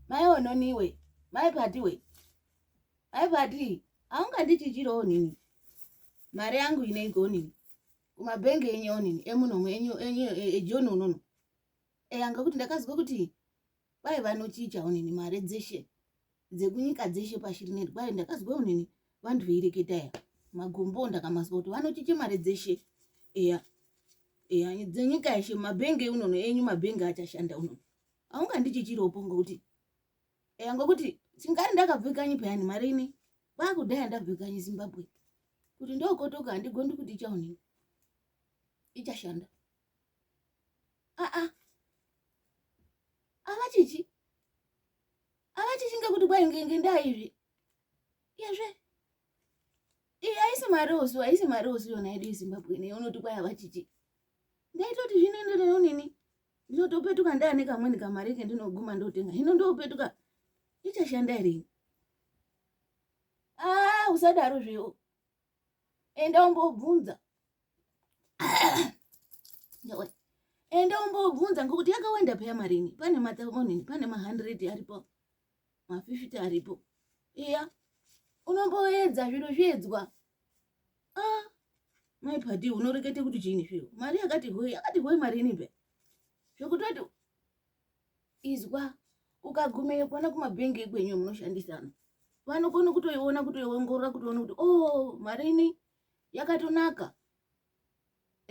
mai ononiwe mai padiwe mai padi haungandichichirewo nini mari yangu ineiko nini kumabhengi enyu onini emunomu enyu enyu ejoni e, unono eyanga kuti ndakazwa kuti kwai vanochicha onini mari dzeshe dzekunyika dzeshe pashi rine rwari ndakazwa unini vanhu veireketa ya magombo ndakamazwa kuti vanochiche mari dzeshe eya eya dzenyika yeshe mabhenge unono enyu mabhenge achashanda unono aungandichichiropo ngokuti eya ngokuti chingari ndakabve kanyi peyani mari ini kwakudhaya ndabve kanyi zimbabwe kuti ndokotoka handigondi kuti ichaonini ichashanda aa ah, ah. avachichi avachishinga kuti kwai ngenge ndaizvi iyezve iyi haisi mari osu haisi mari osu yona yedu yezimbabwe nei unoti kwai avachiti ndaitoti zvinoenderero nini ndinotopetuka ndaane kamweni kamari ke ndinoguma ndotenga hino ndopetuka ichashanda irini aa ah, usadaro zvewo enda umbobvunza enda umbobvunza ngokuti yakawanda peya marini pane mathausand pane mahundred aripo mafifty aripo iya unomboedza zviro zviedzwa a ah, mai pati unorekete kuti chiini zviro mari yakati hoi yakati hoi marini peya zvokutoti izwa ukagumeyo kwana kumabhengi ekwenyu munoshandisana vanokona kutoiona kutoiongorora kutoona kuti o oh, marini yakatonaka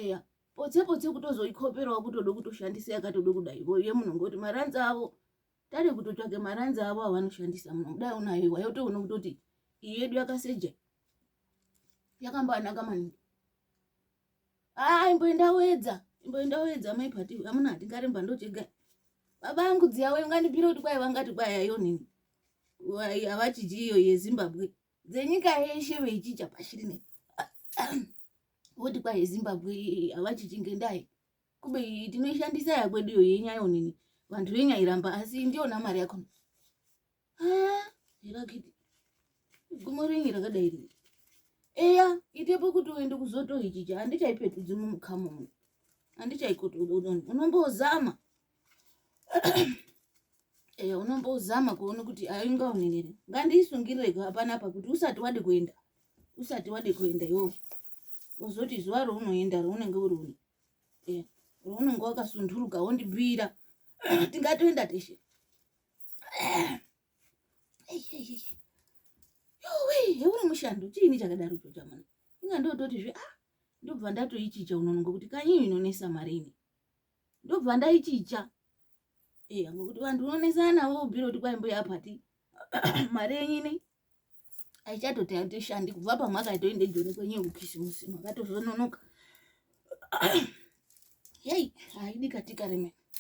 eya potse potse kutozoikoperawo kutoda kutoshandisa yakatoda kudai voiye muno ngoti maranzi avo tade kutotsvake maranzi avo avanoshandisa muno kudai unayo iwayo utoona kutoti iyi yedu yakaseja yakambanaka maningi ah imboenda wedza imboenda wedza mai pati amuna hatingaremba ndochega baba angu dziya wayo ngandipire kuti kwai vangati kwai ayo nini havachidyi iyo yezimbabwe dzenyika yeshe veichicha pashi rine voti kwai yezimbabwe havachidyi ngendai kube tinoishandisa yakwedu iyo yenyayo nini vanhu venyairamba asi ndiona mari yakona rakiti gumo renyu rakadai ri eya itepo kuti uende kuzoto ichicha handichaipetudzi mumukamu mu handichaikuti unombozama eya unombozama kuona kuti aingaonenere ngandiisungireko hapana apa kuti usati wade kuenda usati wade kuenda iwo uzoti zuva rounoenda rounenge uri une eya rounenge wakasunduruka wondibira tingatoenda teshe heuri mushando chiini chakadaro icho chamana inga ndototi zve ah ndobva ndatoichicha unono ngokuti kanyi inonesa mari ini ndobva ndaichicha eya eh, ngokuti vanhu unonesana navo ubvira kuti kwai mbuya apati mari yenyu ine aichatoti atishandi kubva pamakaitoende joni kwenyu yekukisimusi makatozononoka yei haidi katika remene